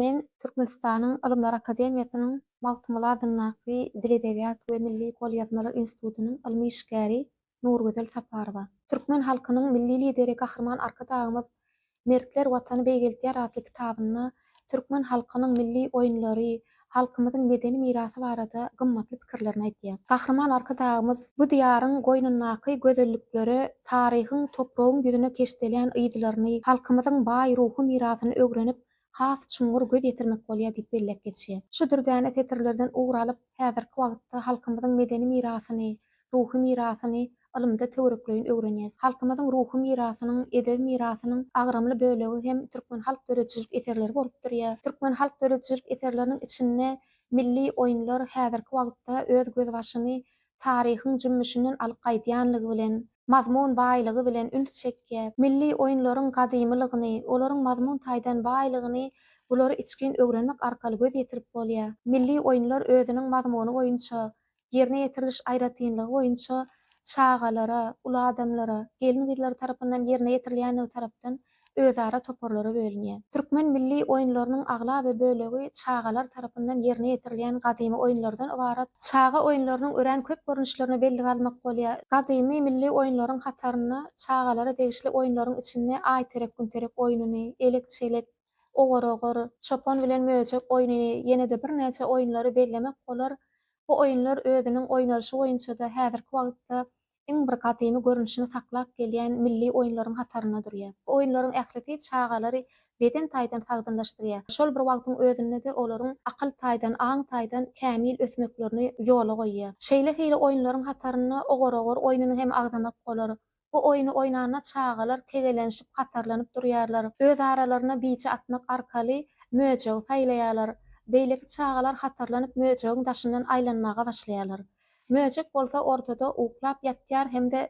Men Türkmenistanyň Ylymlar akademiýasynyň Magtymguly adyndaky Dil-edebiýat we milli golýazmalar institutynyň ylmy işgäri Nurgözel Saparowa. Türkmen halkynyň Milli Lideri Gahryman Arkadagymyz Mertler Watany beýgeltýär atly kitabynda türkmen halkynyň milli oýunlary, halkymyzyň medeni mirasy barada gymmatly pikirlerini aýdýar. Gahryman Arkadagymyz bu Diýaryň goýnundaky gözelliklere, taryhyň, topragyň ýüzüne keşdelýän yzlaryny, halkymyzyň baý ruhy mirasyny öwrenip, has çuňňur göz ýetirmek bolýar diýip belläp geçýär. Şu dürdäne setirlerden ugur alyp, häzirki wagtda halkymyzyň medeni mirasyny, ruhy mirasyny ylymda töwerekleýin öwrenýäs. Halkymyzyň ruhy mirasynyň, edebi mirasynyň agramly bölegi hem türkmen halk döredijilik eserleri bolup durýar. Türkmen halk döredijilik eserleriniň içinde milli oýunlar häzirki wagtda öz gözbaşyny taryhyň jümmüşinden alyp gaýdýanlygy bilen, mazmun baýlygy bilen üns çekýär. Milli oýunlaryň gadymylygyny, olaryň mazmun taýdan baýlygyny bulary içgin öwrenmek arkaly göz ýetirip bolýar. Milli oýunlar özüniň mazmuny boýunça, ýerine ýetiriliş aýratynlygy boýunça çagalara, uly adamlara, gelin-gyzlara tarapyndan ýerine ýetirilýänligi tarapdan özara toparlara bölünýär. Türkmen milli oýunlarynyň aglaba bölegi çagalar tarapyndan ýerine ýetirilýän gadymy oýunlardan ybarat. Çaga oýunlarynyň örän köp görnüşlerine bellige almak bolýar. Gadymy milli oýunlaryň hatarynda çagalara degişli oýunlaryň içinde aýterek-günterek oýnuny, elek-çelek, ogur-ogur, çopan bilen möjek oýnuny, ýene-de birnäçe oýunlary bellemek bolar. Bu oýunlar özüniň oýnalyşy boýunça-da häzirki wagtda iň bir gadymy görnüşini saklap gelýän milli oýunlaryň hatarynda durýar. Bu oýunlaryň ählisi çagalary beden taýdan sagdynlaşdyrýar, şol bir wagtyň özünde-de olaryň akyl taýdan, aň taýdan kämil ösmeklerini ýola goýýar. Şeýle hili oýunlaryň hatarynda ogur-ogur oýnuny hem agzamak bolar. Bu oýny oýnanda çagalar tegelenişip hatarlanyp durýarlar, öz aralarynda bije atmak arkaly möjegi saýlaýarlar. Beýleki çagalar hatarlanyp möjegiň daşyndan aýlanmaga başlaýarlar. Möjek bolsa ortada uklap ýatýar hem-de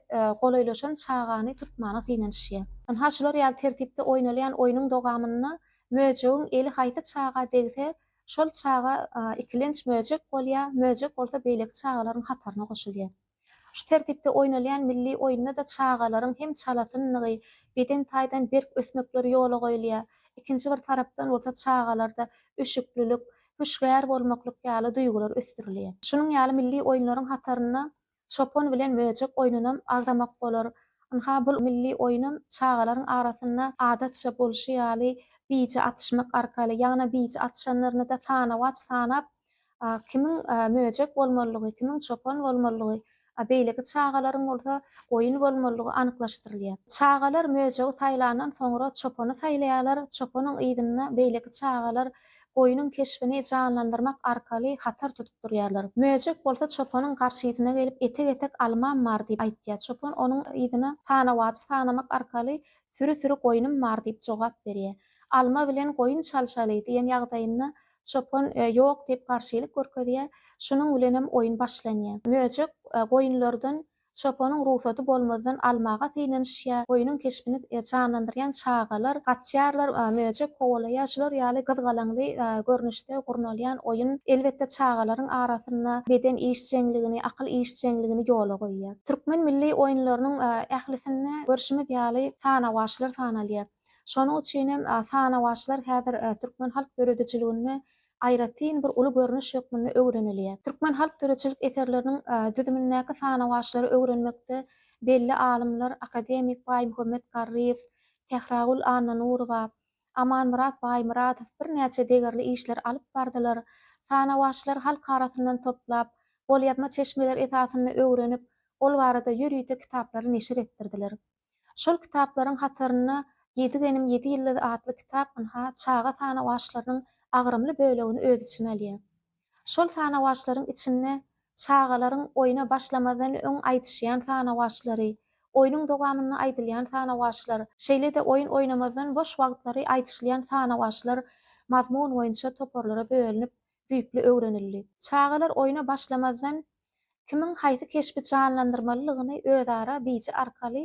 golaýlaşan çagany tutmana synanyşýar. Ynha şular ýaly tertipde oýnalýan oýnuň dogamynda möjegiň eli haýsy çaga degse, şol çaga ikilenç möjek bolýar, möjek bolsa beýleki çagalaryň hataryna goşulýar. Şu tertipde oýnalýan milli oýunda-da çagalaryň hem çalasynlygy, beden taýdan berk ösmekleri ýola goýulýar, ikinji bir tarapdan bolsa çagalarda üşüklilik, hüşgär bolmaklyk ýaly duýgular ösdürilýär. Şunuň ýaly milli oýunlaryň hatarynda çopan bilen möjek oýnunam agzamak bolar. Ynha, bul milli oýunam çagalaryň arasynda adatça bolşy ýaly bije atyşmak arkaly, ýagny bije atyşanlaryny-da sanawaç sanap, kimiň möjek bolmalydygy, kimiň çopan bolmalydygy a beýleki çagalaryň bolsa goýun bolmalydygy anyklaşdyrylýar. Çagalar möjegi saýlandan soňra çopany saýlaýarlar, çopanyň yzynda beýleki çagalar goýnuň keşbini janlandyrmak arkaly hatar tutup durýarlar. Möjek bolsa çopanyň garşysyna gelip etek-etek almam bar diýip aýtýar. Çopan onuň yzyna sanawajy sanamak arkaly süri-süri goýnum bar diýip jogap berýär. Alma bilen goýun çalşaly diýen ýagdaýynda Çopan ýok diýip garşylyk görkezýär. Şunuň bilenem oýun başlanýar. Möjek goýunlardan çopanyň rugsady bolmazdan almaga synanyşýar. Goýnuň keşbini janlandyrýan çagalar gaçýarlar. Möjek kowalaýar. Şular ýaly gyzgalaňly görnüşde gurnalýan oýun, elbetde, çagalaryň arasynda beden işjeňligini, akyl işjeňligini ýola goýýar. Türkmen milli oýunlarynyň ählisinde görşümiz ýaly sanawaçlar sanalýar. Şonuň üçin hem sanawaçlar häzir türkmen halk döredijiliginde aýratyn bir uly görnüş hökmünde öwrenilýär. Türkmen halk döredijilik eserleriniň düzümindäki sanawaçlary öwrenmekde belli alymlar, akademik Baýmuhammet Garryýew, Sähragül Annanurowa, Amanmyrat Baýmyradow birnäçe degerli işleri alyp bardylar. Sanawaçlar halk arasyndan toplap, golýazma çeşmeler esasynda öwrenip, ol barada ýörite kitaplary neşir etdirdiler. Şol kitaplaryň hatarynda Ýedi genim, ýedi ýyldyz atly kitap ynha, çaga sanawaçlarynyň agramly bölegini öz içine alýar. Şol sanawaçlaryň içinde çagalaryň oýna başlamazdan öň aýdyşýan sanawaçlary, oýnuň dowamynda aýdylýan sanawaçlar, şeýle-de oýun oýnamazdan boş wagtlary aýdyşylýan sanawaçlar mazmun boýunça toparlara bölünip, düýpli öwrenildi. Çagalar oýna başlamazdan kimiň haýsy keşbi janlandyrmalydygyny özara biji arkaly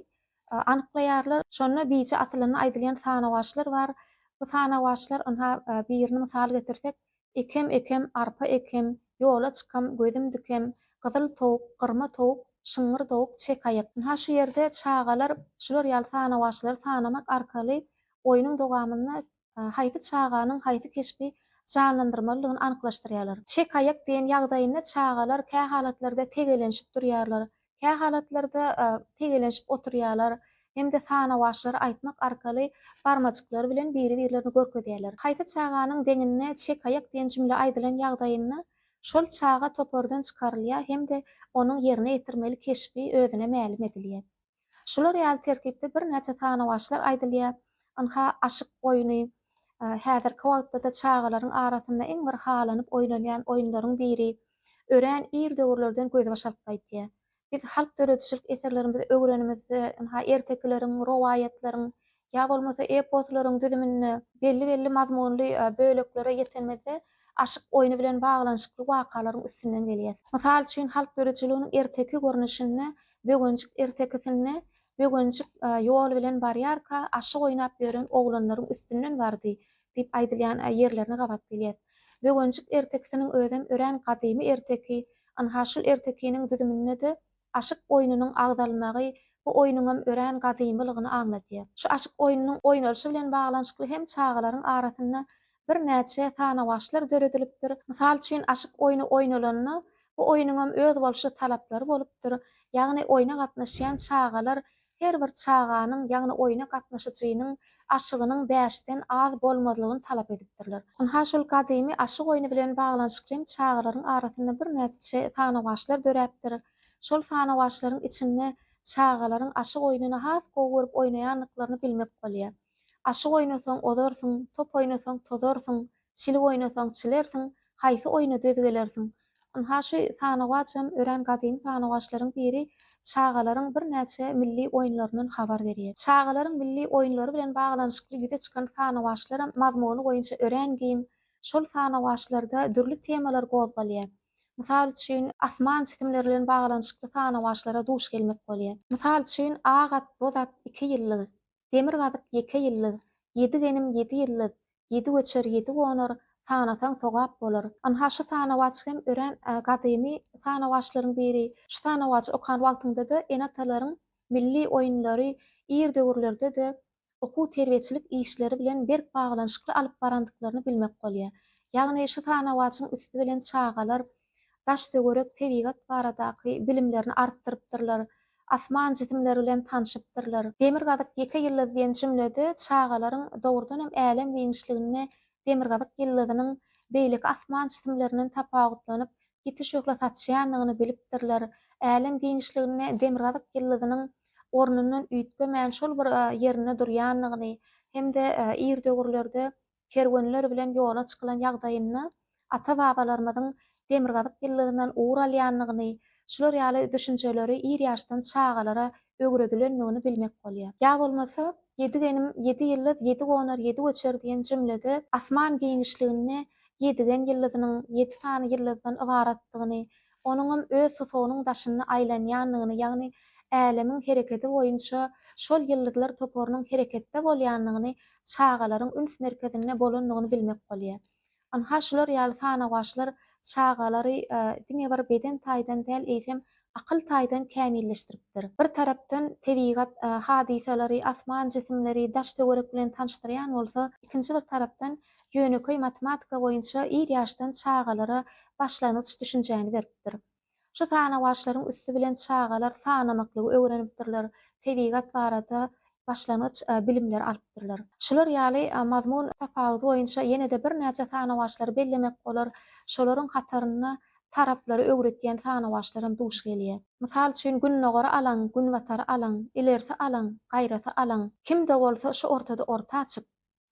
anyklaýarlar. Şonda biji atylanda aýdylýan sanawaçlar bar. Bu sanawaçlar, ynha, birini mysal getirsek, Ekem, ekem, arpa ekem, Ýola çykam, gözüm dikem, Gyzyl towuk, gyrma towuk, Şyňňyr dowuk, çek aýak. Ynha, şu ýerde çagalar şular ýaly sanawaçlary sanamak arkaly oýnuň dowamynda Haýsy çaganyň haýsy keşbi janlandyrmalydygyny anyklaşdyrýarlar. Çekaýak diýen ýagdaýynda çagalar kä halatlarda tegelenşip durýarlar, kä halatlarda tegelenşip oturýarlar hem-de sanawaçlary aýtmak arkaly barmajyklary bilen biri-birlerini görkezýärler. Haýsy çaganyň deňinde çekaýak diýen jümle aýdylan ýagdaýynda şol çaga topardan çykarylýar hem-de onuň ýerine ýetirmeli keşbi özüne mälim edilýär. Şular ýaly tertipde birnäçe sanawaçlar aýdylýar. Ynha, aşyk oýny. Häzirki wagtda-da çagalaryň arasynda iň bir halanyp oýnalýan oýunlaryň biri. Örän ir döwürlerden gözbaş alyp gaýtýar. Biz halk döredijilik eserlerimizi öwrenimizde, ynha, ertekileriň, rowaýatlaryň, ýa bolmasa eposlaryň düzüminde belli-belli mazmunly böleklere ýetenimizde aşyk oýny bilen baglanyşykly wakalaryň üstünden gelýäs. Mysal üçin, halk ýörüjiliginiň erteki görnüşinde Böwenjik ertekisinde Böwenjik ýol bilen barýarka aşyk oýnap ýören oglanlaryň üstünden bardy diýip aýdylýan ýerlerine gabat gelýäs. Böwenjik ertekisiniň özem örän gadymy erteki, ynha şul ertekiniň düzüminde-de Aşyk oýnunyň agzalmagy bu oýnuňam örän gadymylygyny aňladýar. Şu aşyk oýnunyň oýnalyşy bilen baglanyşykly hem çagalaryň arasynda birnäçe sanawaçlar döredilipdir. Mysal üçin, aşyk oýny oýnalanda, bu oýnuňam özboluşly talaplary bolupdyr, ýagny oýna gatnaşýan çagalar her bir çaganyň, ýagny oýna gatnaşyjynyň aşygynyň bäşden az bolmazlygyny talap edipdirler. Ynha, şol gadymy aşyk oýny bilen baglanyşykly hem çagalaryň arasynda birnäçe sanawaçlar döräpdir. Şol sanawaçlaryň içinde çagalaryň aşyk oýnuny has gowy görüp oýnaýandyklaryny bilmek bolýar. Aşyk oýnasaň, ozarsyň, top oýnasaň, tozarsyň. Çil oýnasaň çilersiň, haýsy oýna döz gelersiň? Ynha, şu sanawaçam örän gadymy sanawaçlaryň biri çagalaryň birnäçe milli oýunlaryndan habar berýär. Çagalaryň milli oýunlary bilen baglanyşykly ýüze çykan sanawaçlaram mazmuny boýunça örän giň. Şol sanawaçlarda dürli temalar gozgalýar. Mysal üçin, asman jisimleri bilen baglanyşykly sanawaçlara duş gelmek bolýar. Mysal üçin, ak at, boz at, iki ýyldyz. Demirgazyk ýeke ýyldyz, Ýedi genim ýedi ýyldyz, Ýedi göçer ýedi gonar, Sanasaň sogap bolar. Ynha şu sanawaç hem örän gadymy sanawaçlaryň biri. Şu sanawajy okan wagtyňda-da ene-atalaryň milli oýunlary ir döwürlerde-de okuw-terbiýeçilik işleri bilen berk baglanyşykly alyp barandyklaryny bilmek bolýar. Ýagny şu sanawaçyň üsti bilen çagalar daş-töwerek, tebigat baradaky bilimlerini artdyrypdyrlar, asman jisimleri bilen tanşypdyrlar. Demirgazyk ýeke ýyldyz diýen jümlede çagalaryň dogrudan hem älem giňişliginde demirgazyk ýyldyzynyň beýleki asman jisimlerinden tapawutlanyp, ýiti şöhle saçýandygyny bilipdirler. Älem giňişliginde demirgazyk ýyldyzynyň ornundan üýtgemän şol bir ýerinde durýandygyny hem-de ir döwürlerde kerwenler bilen ýola çykylan ýagdaýynda ata-babalarymyzyň demirgazyk ýyllygyndan ugur alýandygyny, şular ýaly düşünjeleri ir ýaşdan çagalara öwredilendigini bilmek bolýar. Ýa bolmasa, Ýedi genim, ýedi ýyldyz, ýedi gonar, ýedi göçer diýen jümlede asman giňişliginde ýedigen ýyldyzynyň ýedi sany ýyldyzdan ybaratdygyny, onuňam öz tusagynyň daşynda aýlanýandygyny, ýagny Älemiň hereketi boýunça şol ýyldyzlar toparynyň hereketde bolýandygyny, çagalaryň üns merkezinde bolandygyny bilmek bolýar. Ynha, şular ýaly sanawaçlar çagalary diňe bir beden taýdan däl, eýsem, akyl taýdan kämilleşdiripdir. Bir tarapdan tebigat hadysalary, asman jisimleri, daş-töwerek bilen tanyşdyrýan bolsa, ikinji bir tarapdan ýönekeý matematika boýunça ir ýaşdan çagalara başlangyç düşünjäni beripdir. Şu sanawaçlaryň üsti bilen çagalar sanamaklygy öwrenipdirler, tebigat barada başlangyç bilimleri alypdyrlar. Şular ýaly mazmun tapawudy boýunça ýene-de birnäçe sanawaçlary bellemek bolar, şolaryň hatarynda taraplary öwretýän sanawaçlar hem duş gelýär. Mysal üçin, Gündogary alaň, Günbatary alaň, Ilerisi alaň, Gaýrasy alaň, Kim-de bolsa şu ortada orta açyp,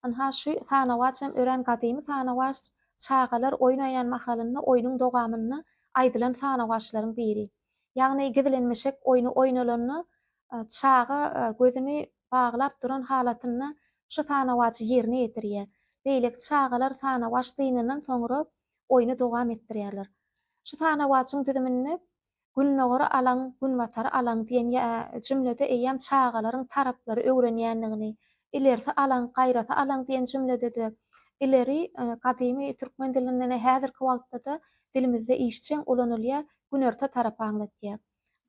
Ynha, şu sanawaç hem örän gadymy sanawaç, çagalar oýun oýnan mahalynda oýnuň dogamynda aýdylan sanawaçlaryň biri. Ýagny gizlenmişek oýny oýnalanda, çaga gözüni baglap duran halatynda şu sanawaçy ýerine ýetirýär. Beýleki çagalar sanawaç dynandan soňra oýny dowam etdirýärler. Şu sanawaçyň düzüminde Gündogary alaň, Günbatary alaň diýen ýa jümlede eýýäm çagalaryň taraplary öwrenýändigini, ilerisi alaň, gaýrasy alaň diýen jümlede-de ileri gadymy türkmen dilinde-de häzirki wagtda-da dilimizde işjeň ulanylýar, günorta tarapy aňlatýar.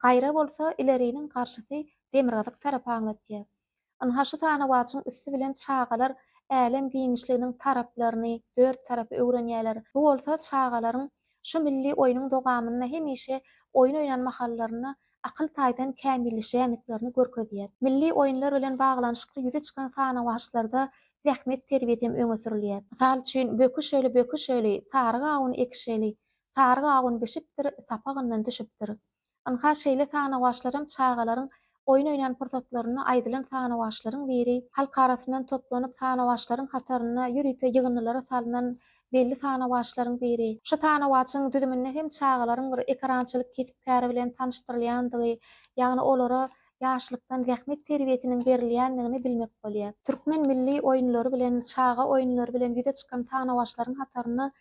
Gaýra bolsa ileriniň garşysy demirgazyk tarapy aňlatýar. Ynha şu sanawaçyň üsti bilen çagalar älem giňişliginiň taraplaryny, dört tarapy öwrenýärler. Bu bolsa çagalaryň şu milli oýnuň dogamynda hemişe oýun oýnan mahallarynda akyl taýdan kämilleşýändiklerini görkezýär. Milli oýunlar bilen baglanyşykly ýüze çykan sanawaçlarda zähmet terbiýesi hem öňe sürülýär. Mysal üçin, Böküşeli, böküşeli, sary gawun ekişeli, sary gawun bişipdir, sapagyndan düşüpdir. Ynha, şeýle sanawaçlaram çagalaryň oýun oýnan pursatlarynda aýdylan sanawaçlaryň biri. Halk arasyndan toplanyp sanawaçlaryň hatarynda ýörite ýygyndylara salnan belli sanawaçlaryň biri. Şu sanawaçyň düzüminde hem çagalaryň bir ekerançylyk kesp-käri bilen tanyşdyrylýandygy, ýagny olara ýaşlykdan zähmet terbiýesiniň berilýändigini bilmek bolýar. Türkmen milli oýunlary bilen, çaga oýunlary bilen ýüze çykan sanawaçlaryň hatarynda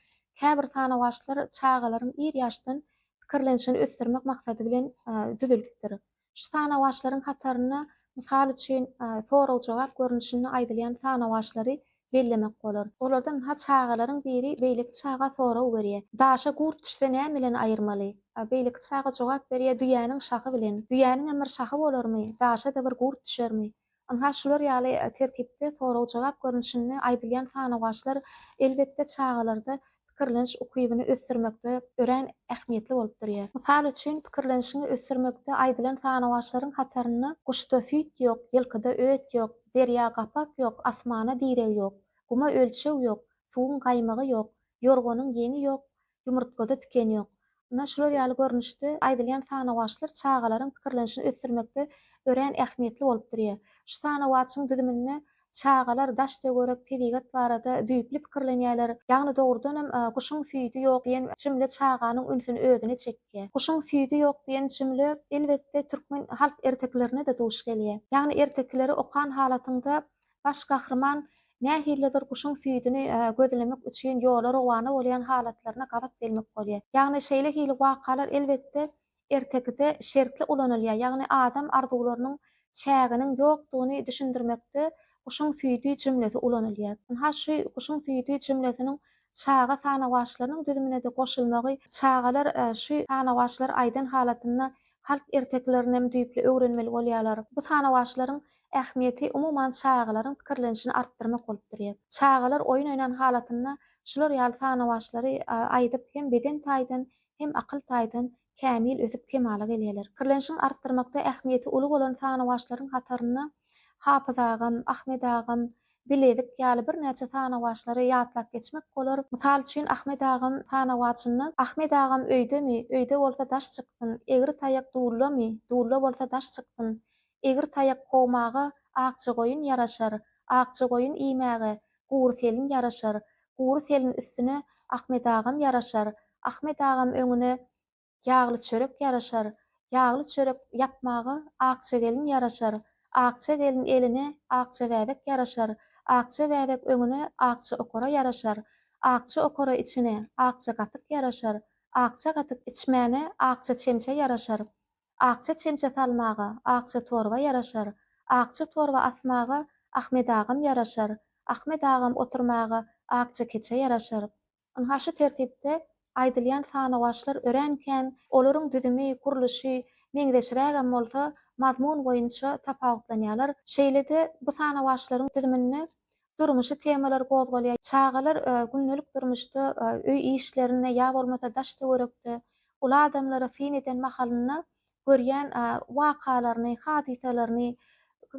käbir sanawaçlar çagalaryň ir ýaşdan pikirlenişini ösdürmek maksady bilen düzülipdir. Şu sanawaçlaryň hatarynda, mysal üçin, sorag-jogap görnüşinde aýdylýan sanawaçlary bellemek bolar. Olardan ha çagalaryň biri beýleki çaga sorag berýär, Daşa gurt düşse näme bilen aýyrmaly? A beýleki çaga jogap berýär, Düýäniň şahy bilen. Düýäniňem bir şahy bolarmy? Daşa-da bir gurt düşermi? Ynha, şular ýaly tertipde sorag-jogap görnüşinde aýdylýan sanawaçlar, elbetde, çagalarda pikirleniş ukybyny ösdürmekde örän ähmiýetli bolup durýar. Mysal üçin, pikirlenişiňi ösdürmekde aýdylan sanawaçlaryň hatarynda Guşda süýt ýok, ýylkyda öt ýok, Derýa gapak ýok, asmana direg ýok, Guma ölçeg ýok, suwuň gaýmagy ýok, Ýorganyň ýeňi ýok, ýumurtgada tiken ýok. Ynha, şular ýaly görnüşde aýdylýan sanawaçlar çagalaryň pikirlenişini ösdürmekde örän ähmiýetli bolup durýar. Şu sanawaçyň düzüminde çagalar daş-töwerek, tebigat barada düýpli pikirlenýärler. Ýagny dogrudanam Guşuň süýdi ýok diýen jümle çaganyň ünsüni özüne çekýär. Guşuň süýdi ýok diýen jümle, elbetde, türkmen halk ertekilerine-de duş gelýär. Ýagny ertekileri okan halatyňda Baş gahryman nähilidir guşuň süýdüni gözlemek üçin ýola rowana bolýan halatlaryna gabat gelmek bolýar. Ýagny şeýle hili wakalar elbetde ertekide şertli ulanylýar, ýagny adam arzuwlarynyň çäginiň ýokdugyny düşündirmekde guşuň süýdi jümlesi ulanylýar. Ynha şu guşuň süýdi jümlesiniň çaga sanawaçlarynyň düzümine-de goşulmagy çagalar şu sanawaçlary aýdan halatynda halk ertekilerinem düýpli öwrenmeli bolýarlar. Bu sanawaçlaryň ähmiýeti umuman çagalaryň pikirlenişini artdyrmak bolup durýar. Çagalar oýun oýnan halatynda şular ýaly sanawaçlary aýdyp hem beden taýdan, hem akyl taýdan kämil ösüp kemala gelýärler. Pikirlenişiň artdyrmakda ähmiýeti uly bolan sanawaçlaryň hatarynda Hapyz agam, Ahmet agam, bilezik ýaly birnäçe sanawaçlary ýatlap geçmek bolar. Mysal üçin, Ahmet agam sanawaçynda Ahmet agam öýdemi, öýde bolsa daş çyksyn, egri taýak dullamy, dulla bolsa daş çyksyn, egri taýak kowmaga akja goýun ýaraşar, akja goýun iýmäge gury selin ýaraşar, gury selin üstüne Ahmet agam ýaraşar, Ahmet agam öňüne ýagly çörek ýaraşar, ýagly çörek ýapmaga akja gelin ýaraşar, akja gelin eline akja bäbek ýaraşar, akja bäbek öňüne akja okara ýaraşar, akja okara içine akja gatyk ýaraşar, akja gatyk içmäne akja çemçe ýaraşar, akja çemçe salmaga akja torba ýaraşar, akja torba asmaga Ahmet agam ýaraşar, Ahmet agam oturmaga akja keçe ýaraşar, Ynha şu tertipde aýdylýan sanawaçlar örän kän, olaryň düzümi, gurluşy meňzeşrägem bolsa, mazmun boýunça tapawutlanýarlar. Şeýle-de, bu sanawaçlaryň düzüminde durmuşy temalar gozgalýar. Çagalar gündelik durmuşda, öý işlerinde ýa bolmasa daş-töwerekde uly adamlara syn eden mahalynda görýän wakalaryny, hadysalaryny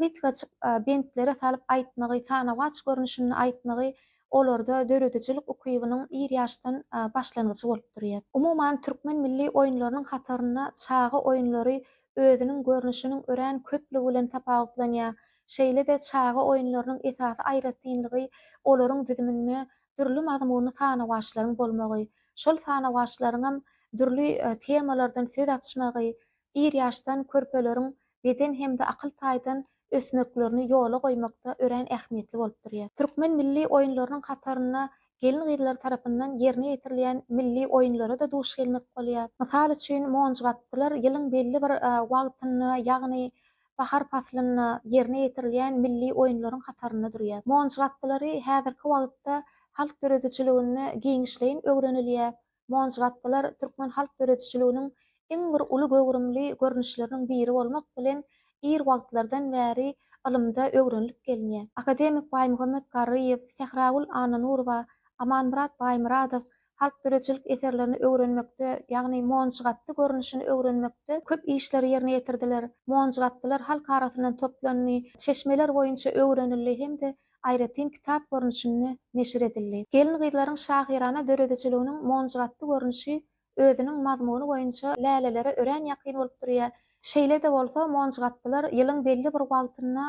gysgajyk bentlere salyp aýtmagy, sanawaç görnüşinde aýtmagy olarda döredijilik ukybynyň ir ýaşdan başlangyjy bolup durýar. Umuman, türkmen milli oýunlarynyň hatarynda çaga oýunlary özüniň görnüşiniň örän köplügi bilen tapawutlanýar. Şeýle-de çaga oýunlarynyň esasy aýratynlygy olaryň düzüminde dürli mazmunly sanawaçlaryň bolmagy, şol sanawaçlaryňam dürli temalardan söz açmagy, ir ýaşdan körpeleriň beden hem-de akyl taýdan ösmeklerini ýola goýmakda örän ähmiýetli bolup durýar. Türkmen milli oýunlarynyň hatarynda gelin-gyzlar tarapyndan ýerine ýetirilýän milli oýunlara-da duş gelmek bolýar. Mysal üçin, monjybatdylar ýylyň belli bir wagtynda, ýagny bahar paslynda ýerine ýetirilýän milli oýunlaryň hatarynda durýar. Monç gatlylary häzirki wagtda halk döredijiliginde giňişleýin öwrenilýär. Monç gatlylar türkmen halk döredijiliginiň iň bir uly göwrümli görnüşleriniň biri bolmak bilen, ir wagtlardan bäri ylymda öwrenilip gelinýär. Akademik Baýmuhammet Garryýew, Sähragül Annanurowa, Amanmyrat Baýmyradow halk döredijilik eserlerini öwrenmekde, ýagny monjygatdy görnüşini öwrenmekde köp işleri ýerine ýetirdiler. Monjygatdylar halk arasyndan toplandy, çeşmeler boýunça öwrenildi hem-de aýratyn kitap görnüşinde neşir edildi. Gelin-gyzlaryň şahyrana döredijiliginiň monjygatdy görnüşi özüniň mazmuny boýunça lälelere örän ýakyn bolup durýar. Şeýle-de bolsa, monjygatdylar ýylyň belli bir wagtynda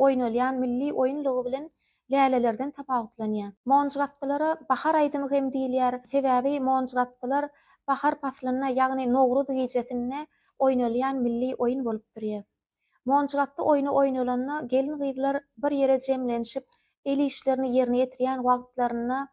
oýnalýan milli oýun lugy bilen lälelerden tapawutlanýar. Monjgapdylara bahar aýdymy hem diýilýär, sebäbi monjgapdylar bahar paslynda, ýagny Nowruz gijesinde oýnalýan milli oýun bolup durýar. Monjgapdy oýny oýnalanda gelin-gyzlar bir ýere jemlenişip, el işlerini ýerine ýetirýän wagtlarynda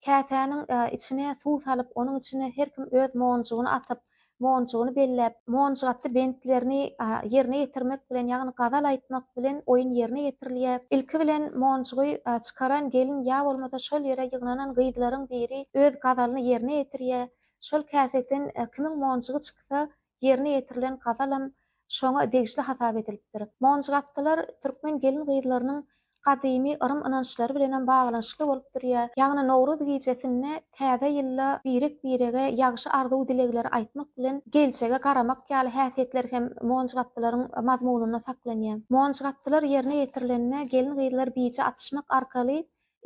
Käsäniň içine suw salyp, onuň içine her kim öz monjugyny atyp, monjugyny belläp, monjuk atdy bentlerini ýerine ýetirmek bilen, ýagny gazal aýtmak bilen oýun ýerine ýetirilýä. Ilki bilen monjugy çykaran gelin ýa bolmasa şol ýere ýygnanan gyzlaryň biri öz gazalyny ýerine ýetirýä. Şol käseden kimiň monjugy çyksa, ýerine ýetirilen gazalam şoňa degişli hasap edilipdir. Monjygapdylar türkmen gelin-gyzlarynyň gadymy yrym-ynançlary bilenem baglanyşykly bolup durýar. Ýagny Nowruz gijesinde täze ýylda birek-birege ýagşy arzuw-dilegleri aýtmak bilen, geljege garamak ýaly häsiýetler hem monjygapdylaryň mazmunynda saklanýar. Monjygapdylar ýerine ýetirilende gelin-gyzlar bije atyşmak arkaly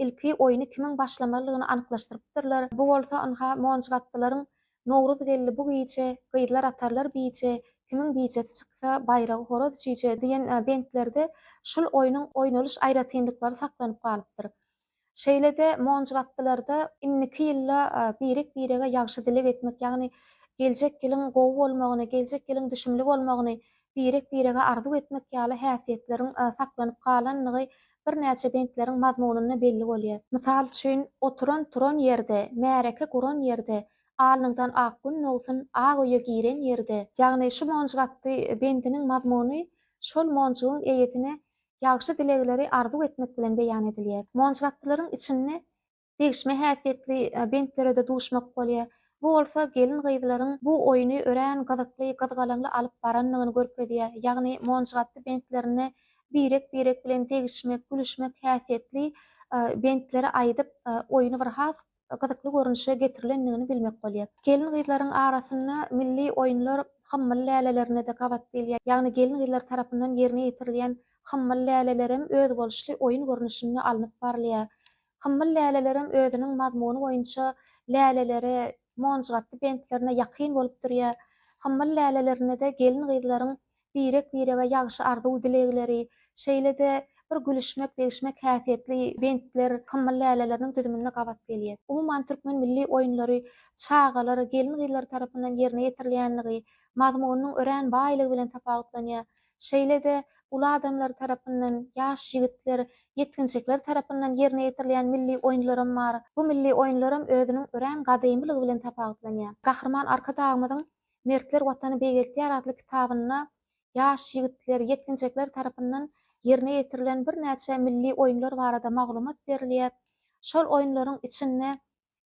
ilki oýny kimiň başlamalydygyny anyklaşdyrypdyrlar. Bu bolsa ynha monjygapdylaryň Nowruz geldi bu gije, Gyzlar atarlar bije, Kimiň bijesi çyksa, Baýragy horaz çüýje diýen bentlerde şul oýnuň oýnalyş aýratynlyklary saklanyp galypdyr. Şeýle-de monjuk atlylarda indiki ýylda birek-birege ýagşy dileg etmek, ýagny geljek ýylyň gowy bolmagyny, geljek ýylyň düşümli bolmagyny birek-birege arzuw etmek ýaly häsiýetleriň saklanyp galandygy birnäçe bentleriň mazmunynda belli bolýar. Mysal üçin, Oturan-turan ýerde, märeke guran ýerde, Alnyňdan ak gün dogsun, Ak öýe giren ýerde. Ýagny şu monjuk atly bendiniň mazmuny şol monjugyň eýesine ýagşy dilegleri arzuw etmek bilen beýan edilýär. Monjuk atlylaryň içinde degişme häsiýetli bentlere-de duşmak bolýar. Bu bolsa gelin-gyzlaryň bu oýny örän gyzykly, gyzgalaňly alyp barandygyny görkezýär. Ýagny monjgatdy bentlerinde birek-birek bilen degişmek, gülüşmek häsiýetli bentleri aýdyp, oýny bir has gyzykly görnüşe getirilendigini bilmek bolýar. Gelin-gyzlaryň arasynda milli oýunlar hymmal lälelerine-de gabat gelýär. Ýagny gelin-gyzlar tarapyndan ýerine ýetirilýän hymmal lälelerem özboluşly oýun görnüşinde alnyp barylýar. Hymmyl lälelerem özüniň mazmuny boýunça läleleri monjgatdy bentlerine ýakyn bolup durýar. Hymmyl lälelerinde-de gelin-gyzlaryň birek-birege ýagşy arzuw-dilegleri, şeýle-de bir gülüşmek-degişmek häsiýetli bentler hymmyl läleleriniň düzüminde gabat gelýär. Umuman, türkmen milli oýunlary çagalar, gelin-gyzlar tarapyndan ýerine ýetirilýänligi, mazmunynyň örän baýlygy bilen tapawutlanýar. Şeýle-de, uly adamlar tarapyndan, ýaş ýigitler, ýetginjekler tarapyndan ýerine ýetirilýän milli oýunlaram bar. Bu milli oýunlaram özüniň örän gadymylygy bilen tapawutlanýar. Gahryman Arkadagymyzyň Mertler Watany beýgeltýär atly kitabynda ýaş ýigitler, ýetginjekler tarapyndan ýerine ýetirilen birnäçe milli oýunlar barada maglumat berilýär. Şol oýunlaryň içinde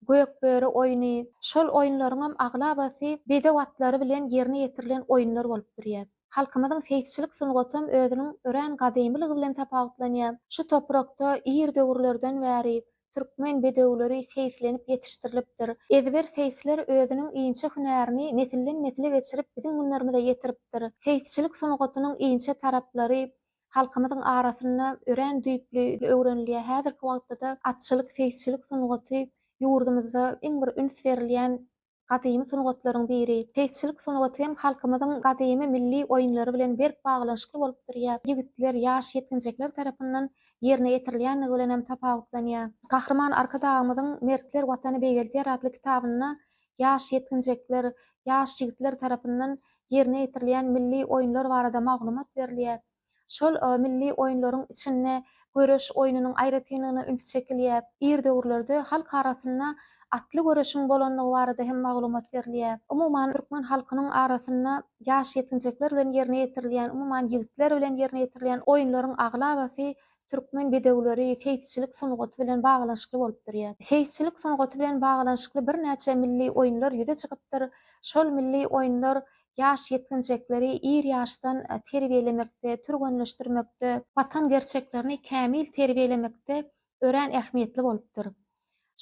Gökböri oýny. Şol oýunlaryňam aglabasy bedew atlary bilen ýerine ýetirilen oýunlar bolup durýar. Halkymyzyň seýisçilik sungatam özüniň örän gadymylygy bilen tapawutlanýar. Şu toprakda ir döwürlerden bäri türkmen bedewleri seýislenip ýetişdirilipdir. Ezber seýisler özüniň inçe hünärini nesilden-nesile geçirip biziň günlerimize ýetiripdir. Seýisçilik sungatynyň inçe taraplary Halkymyzyň arasynda örän düýpli öwrenilýär. Häzirki wagtda-da atçylyk, seýisçilik sungaty ýurdumyzda iň bir üns berilýän gadymy sungatlaryň biri. Seýisçilik sungaty hem halkymyzyň gadymy milli oýunlary bilen berk baglanyşykly bolup durýar. Ýigitler, ýaş ýetginjekler tarapyndan ýerine ýetirilýändigi bilen hem tapawutlanýar. Gahryman Arkadagymyzyň Mertler Watany beýgeldýär atly kitabynda ýaş ýetginjekler, ýaş ýigitler tarapyndan ýerine ýetirilýän milli oýunlar barada maglumat berilýär. Şol milli oýunlaryň içinde göreş oýnunyň aýratynlygyna üns çekilýär. Ir döwürlerde halk arasynda atly göreşiň bolandygy barada hem maglumat berilýär. Umuman, türkmen halkynyň arasynda ýaş ýetginjekler bilen ýerine ýetirilýän, umuman, ýigitler bilen ýerine ýetirilýän oýunlaryň aglabasy Türkmen bedewleri seýisçilik sungaty bilen baglanyşykly bolup durýar. Seýisçilik sungaty bilen baglanyşykly birnäçe milli oýunlar ýüze çykypdyr. Şol milli oýunlar ýaş ýetginjekleri ir ýaşdan terbiýelemekde, türgenleşdirmekde, watan gerçeklerini kämil terbiýelemekde örän ähmiýetli bolupdyr.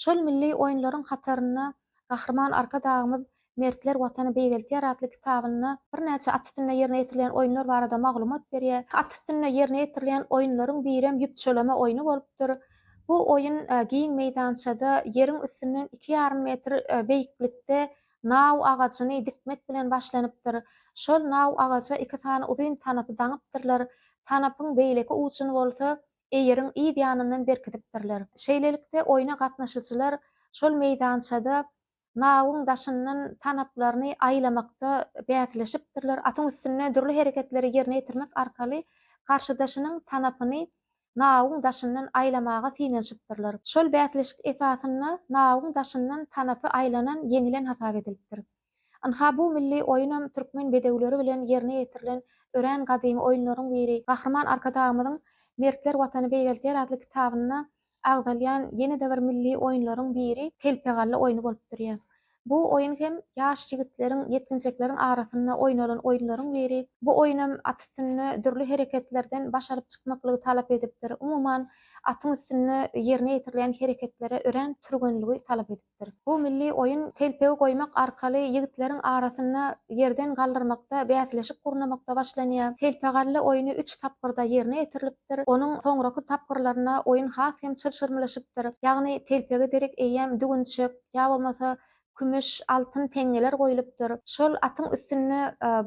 Şol milli oýunlaryň hatarynda Gahryman Arkadagymyz Mertler Watany beýgeltýär atly kitabynda birnäçe at üstünde ýerine ýetirilýän oýunlar barada maglumat berýär. At üstünde ýerine ýetirilýän oýunlaryň birem ýüpçüleme oýny bolupdyr. Bu oýun giň meýdançada ýeriň üstünden iki ýarym metr beýiklikde naw agajyny dikmek bilen başlanypdyr. Şol naw agaja iki sany uzyn tanapy daňypdyrlar. Tanapyň beýleki ujuny bolsa eýeriň yz ýanyndan berkidipdirler. Şeýlelikde, oýna gatnaşyjylar şol meýdançada nawuň daşyndan tanaplaryny aýlamakda bäsleşipdirler, atyň üstünde dürli hereketleri ýerine ýetirmek arkaly garşydaşynyň tanapyny nawuň daşyndan aýlamaga synanyşypdyrlar. Şol bäsleşik esasynda nawuň daşyndan tanapy aýlanan ýeňilen hasap edilipdir. Ynha, bu milli oýunam türkmen bedewleri bilen ýerine ýetirilen örän gadymy oýunlaryň biri. Gahryman Arkadagymyzyň Mertler Watany beýgeldýär atly kitabynda agzalýan ýene-de bir milli oýunlaryň biri telpegalla oýny bolup durýar. Bu oýun hem ýaş ýigitleriň, ýetginjekleriň arasynda oýnalan oýunlaryň biri. Bu oýunam at üstünde dürli hereketlerden baş alyp çykmaklygy talap edipdir. Umuman, atyň üstünde ýerine ýetirilýän hereketlere örän türgenligi talap edipdir. edilipdir. Bu milli oýun telpegi goýmak arkaly ýigitleriň arasynda ýerden galdyrmakda bäsleşik gurnamakda başlanýar. Telpegalla oýny üç tapgyrda ýerine ýetirilipdir. Onuň soňraky tapgyrlarynda oýun has hem çylşyrymlaşypdyr. Ýagny telpege derek eýýäm düwünçek, ýa bolmasa kümüş, altyn teňňeler goýlupdyr. Şol atyň üstünde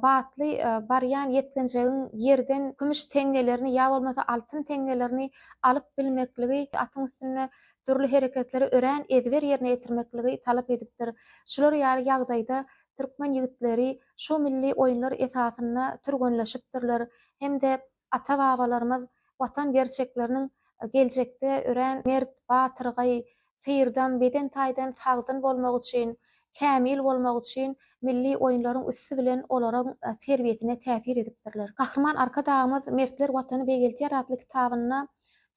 batly barýan ýetginjegiň ýerden kümüş teňňelerini ýa bolmasa altyn teňňelerini alyp bilmekligi atyň üstünde dürli hereketleri örän ezber ýerine ýetirmekligi talap edipdir. Şular ýaly ýagdaýda türkmen ýigitleri şu milli oýunlar esasynda türgenleşipdirler hem-de ata-babalarymyz Watan gerçekleriniň geljekde örän mert, batyrgaý, syrdam, beden taýdan sagdyn bolmagy üçin, kämil bolmagy üçin milli oýunlaryň üsti bilen olaryň terbiýesine täsir edipdirler. Gahryman Arkadagymyz Mertler Watany begeldýär atly kitabynda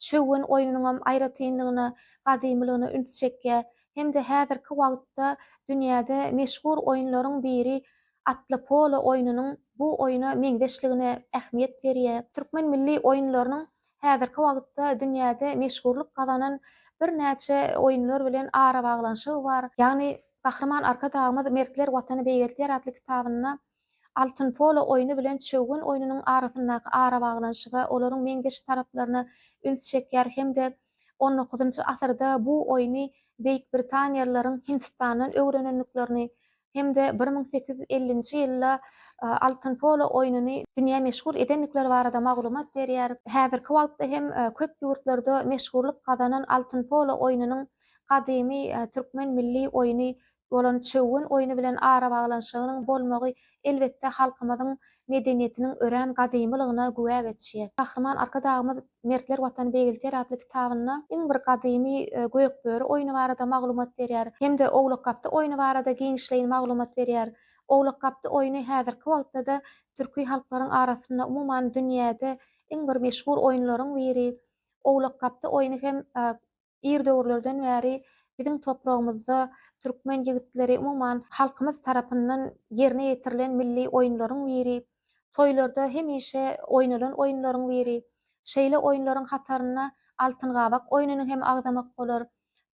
Çöwgen oýnunyňam aýratynlygyna, gadymylygyna üns çekýär hem-de häzirki wagtda dünýäde meşhur oýunlaryň biri atly polo oýnunyň bu oýna meňzeşligine ähmiýet berýär. Türkmen milli oýunlarynyň häzirki wagtda dünýäde meşhurlyk gazanan birnäçe oýunlar bilen arabaglanyşygy bar. Ýagny Gahryman Arkadagymyz Mertler Watany beýgeltýär atly kitabynda Altyn polo oýny bilen çöwgen oýnunyň arasyndaky arabaglanyşyga, olaryň meňzeş taraplaryna üns çekýär hem-de on dokuzynjy asyrda bu oýny beýikbritaniýalylaryň Hindistandan öwrenendiklerini hem-de bir müň sekiz ýüz ellinji ýylda altyn polo oýnuny dünýä meşhur edendikleri barada maglumat berýär. Häzirki wagtda hem köp ýurtlarda meşhurlyk gazanan altyn polo oýnunyň gadymy türkmen milli oýny bolan çöwün oýny bilen arabaglanyşygynyň bolmagy elbetde halkymyzyň medeniýetiniň örän gadymylygyna güwä geçýär. Gahryman Arkadagymyz Mertler Watany beýgelter atly kitabynda iň bir gadymy Gökböri oýny barada maglumat berýär hem-de Owlakgapdy oýny barada giňişleýin maglumat berýär. Owlakgapdy oýny häzirki wagtda-da türki halklaryň arasynda, umuman dünýäde iň bir meşhur oýunlaryň biri. Owlakgapdy oýny hem Ir döwürlerden bäri biziň topragymyzda türkmen ýigitleri, umuman, halkymyz tarapyndan ýerine ýetirilen milli oýunlaryň biri, toýlarda hemişe oýnalan oýunlaryň biri. Şeýle oýunlaryň hataryna Altyn gabak oýnuny hem agzamak bolar.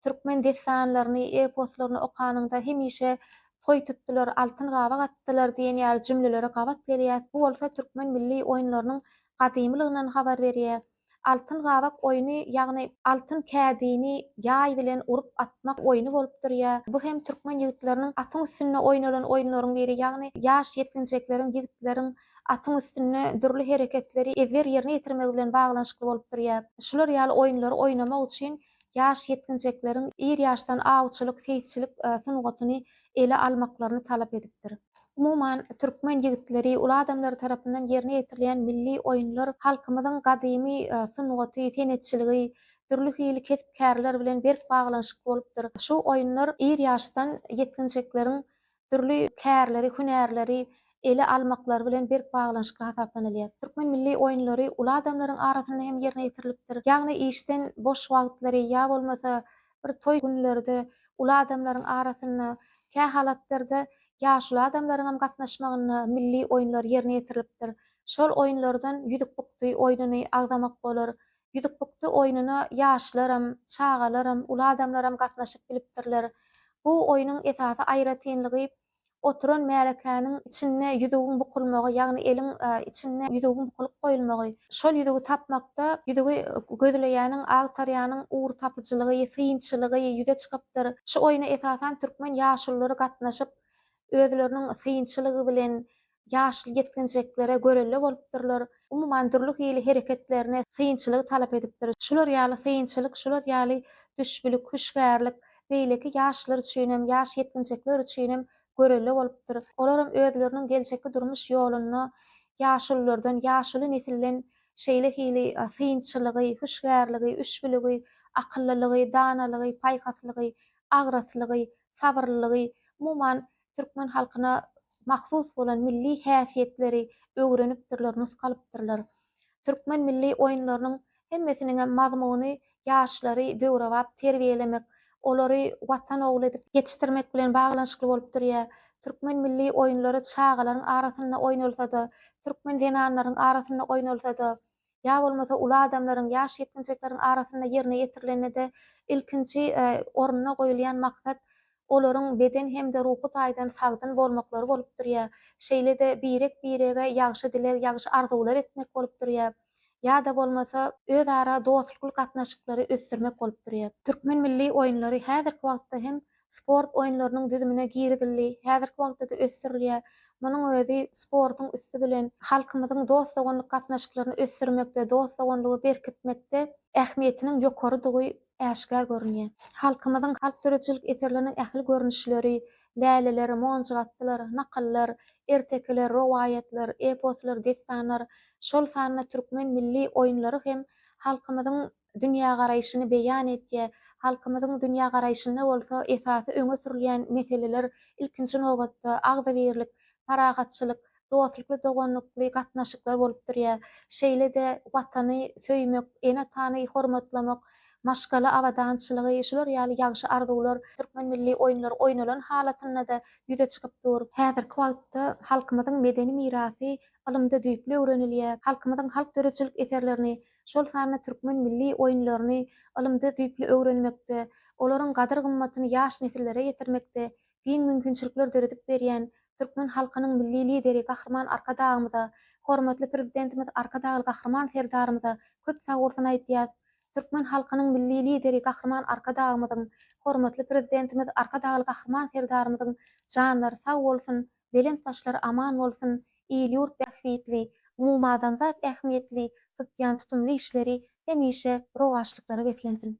Türkmen dessanlaryny, eposlaryny okanyňda hemişe Toý tutdular, altyn gabak atdylar diýen ýaly jümlelere gabat gelýäs. Bu bolsa türkmen milli oýunlarynyň gadymylygyndan habar berýär. Altyn gabak oýny, ýagny altyn kädini ýaý bilen urup atmak oýny bolup durýar. Bu hem türkmen ýigitleriniň atyň üstünde oýnalan oýunlaryň biri, ýagny ýaş ýetginjekleriň, ýigitleriň atyň üstünde dürli hereketleri ezber ýerine ýetirmegi bilen baglanyşykly bolup durýar. Şular ýaly oýunlary oýnamak üçin ýaş ýetginjekleriň ir ýaşdan awçylyk, seýisçilik sungatyny ele almaklaryny talap edipdir. Umuman, türkmen ýigitleri, uly adamlary tarapyndan ýerine ýetirilýän milli oýunlar halkymyzyň gadymy sungaty, senetçiligi, dürli hili kesp-kärler bilen berk baglanyşykly bolupdyr. Şu oýunlar ir ýaşdan ýetginjekleriň dürli kärleri, hünärleri ele almaklary bilen berk baglanyşykly hasaplanylýar. Türkmen milli oýunlary uly adamlaryň arasynda hem ýerine ýetirilipdir. Ýagny işden boş wagtlary ýa bolmasa bir toý günlerde uly adamlaryň arasynda, kähalatlarda ýaşuly adamlaryň hem gatnaşmagynda milli oýunlar ýerine ýetirilipdir. Şol oýunlardan ýüzük bukdy oýnuny agzamak bolar, Ýüzükbukdy oýnuna ýaşlaram, çagalaram, uly adamlaram gatnaşyp bilipdirler. Bu oýnuň esasy aýratynlygy oturan märekäniň içinde ýüzügiň bukulmagy, ýagny eliň içinde ýüzügiň bukulyp goýulmagy. Şol ýüzügi tapmakda ýüzügi gözleýäniň, agtarýanyň ugur tapyjylygy, synçylygy ýüze çykypdyr. Şu oýna esasan türkmen ýaşululary gatnaşyp, özleriniň synçylygy bilen, ýaşly ýetginjeklere görelde bolupdyrlar, umuman dürli hili hereketlerine synçylygy talap edipdir. Şular ýaly synçylyk, şular ýaly düşbülik, hüşgärlik beýleki ýaşlar üçinem, ýaş ýetginjekler üçinem görelde bolupdyr. Olaram özleriniň geljekki durmuş ýolunda ýaşululardan, ýaşuly nesilden şeýle hili synçylygy, hüşgärligi, üşbüligi, akyllylygy, danalygy, paýhaslygy, agraslygy, sabyrlylygy, umuman türkmen halkyna mahsus bolan milli häsiýetleri öwrenipdirler, nusgalypdyrlar. Türkmen milli oýunlarynyň hemmesiniňem mazmuny ýaşlary döwrebap terbiýelemek, olary Watan ogly edip ýetişdirmek bilen baglanyşykly bolup durýar. Türkmen milli oýunlary çagalaryň arasynda oýnalsa-da, türkmen zenanlaryň arasynda oýnalsa-da, ýa bolmasa uly adamlaryň, ýaş ýetginjekleriň arasynda ýerine ýetirilende-de ilkinji orunda goýulýan maksat olaryň beden hem-de ruhy taýdan sagdyn bolmaklary bolup durýar. Şeýle-de birek-birege ýagşy dileg, ýagşy arzuwlar etmek bolup durýar. Ýa-da bolmasa, özara dostlukly gatnaşyklary ösdürmek bolup durýar. Türkmen milli oýunlary häzirki wagtda hem sport oýunlarynyň düzümine girizildi, häzirki wagtda-da ösdürilýär. Munuň özi sportuň üsti bilen halkymyzyň dost-doganlyk gatnaşyklaryny ösdürmekde, dost-doganlygy berkitmekde ähmiýetiniň ýokarydygy äşgär görünýär. Halkymyzyň halk döredijilik eserleriniň ähli görnüşleri, läleler, monjuk atlar, nakyllar, ertekiler, rowaýatlar, eposlar, dessanlar, şol sanda türkmen milli oýunlary hem halkymyzyň dünýägaraýşyny beýan etýär. Halkymyzyň dünýägaraýşynda bolsa esasy öňe sürülýän meseleler, ilkinji nobatda, agzybirlik, parahatçylyk, dostlukly, doganlykly gatnaşyklar bolup durýar. Şeýle-de Watany söýmek, ene-atany hormatlamak, maşgala abadançylygy, şular ýaly ýagşy arzuwlar türkmen milli oýunlary oýnalan halatynda-da ýüze çykyp dur. Häzirki wagtda halkymyzyň medeni mirasy ylymda düýpli öwrenilýär. Halkymyzyň halk döredijilik eserlerini, şol sanda türkmen milli oýunlaryny ylymda düýpli öwrenmekde, olaryň gadyr-gymmatyny ýaş nesillere ýetirmekde giň mümkinçilikler döredip berýän türkmen halkynyň Milli Lideri Gahryman Arkadagymyza, hormatly Prezidentimiz Arkadagly Gahryman Serdarymyza köp sagbolsun aýdýas. Türkmen halkynyň Milli Lideri Gahryman Arkadagymyzyň, hormatly Prezidentimiz Arkadagly Gahryman Serdarymyzyň janlary sag bolsun, belent başlary aman bolsun, il-ýurt bähbitli, umumadamzat ähmiýetli tutýan tutumly işleri hemişe rowaçlyklara beslensin!